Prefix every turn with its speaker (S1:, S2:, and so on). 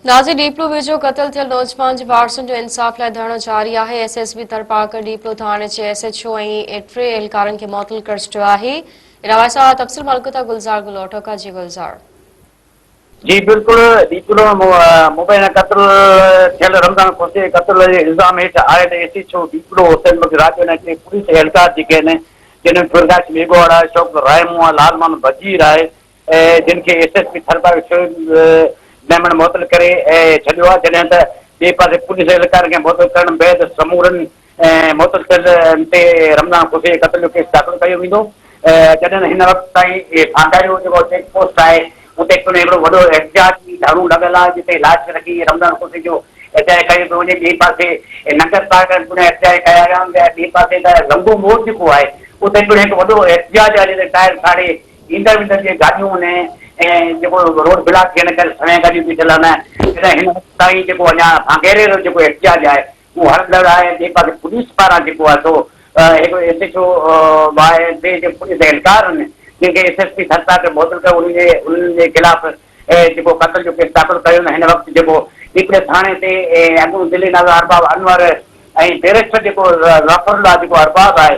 S1: نازي ڏيپلو ويجهو قتل ٿيل نوجوان جي وارثن جو انصاف لاء ڌرڻو جاري آهي، S S B Tharparkar Diplo ٿاڻي جي ايس ايڇ او ۽ ٽي اهلڪارن کي معطل ڪر ڇڏيو آهي. علاوه سان تفصيل ملڪتا گلزار گلوٽو کان جي گلزار.
S2: جي بلڪل ڏيپلو مبينا قتل ٿيل رمضان کوسي قتل جي الزام هيٺ آيل S H O Diplo, Hussain Bakhsh Rajo ۽ ٽي پوليس اهلڪار جيڪي آهن جن ۾ پرڪاش ميگهواڙا، شوڪت رائمون، لالمان بجير آهي جن کي S S P Tharparkar Shoaib Memon معطل ڪري ڇڏيو آهي جڏهن ته ٻئي پاسي پوليس اهلڪارن کي معطل ڪرڻ بعد سمورن معطل ٿيل تي رمضان کوسي جي قتل جو ڪيس داخل ڪيو ويندو جڏهن هن وقت تائين ڀانڊاري جو جيڪو چيڪ پوسٽ آهي اتي پڻ هڪڙو وڏو احتجاجي ڌرڻو لڳل آهي جتي لاش رکي رمضان کوسي جو احتجاج ڪيو پيو وڃي ٻئي پاسي ننگر پارڪر پڻ احتجاج ڪيا ويا ۽ ٻئي پاسي ته لنگهو موڙ جيڪو آهي اتي پڻ هڪ وڏو احتجاج آهي جتي ٽائر ساڙي ايندڙ ويندڙ جي گاڏيون نه ۽ جيڪو روڊ بلاڪ ٿيڻ ڪري سوين گاڏيون بيٺل آهن تڏهن هن وقت تائين جيڪو اڃا سانگهيري رو جيڪو احتجاج آهي اهو هلندڙ آهي ۽ ٻئي پاسي پوليس پاران جيڪو آهي سو هڪڙو ايس ايڇ او واهي ٽي جي پوليس اهلڪار آهن جن کي ايس ايس پي ٿر ساهه کي معطل ڪيو انهن جي انهن جي خلاف جيڪو قتل جو ڪيس داخل ڪيو نه هن وقت جيڪو ڏيپلي ٿاڻي تي اڳوڻو ضلعي ناظر ارباب انور ۽ بيرسٽر جيڪو ظفرالله جيڪو ارباب آهي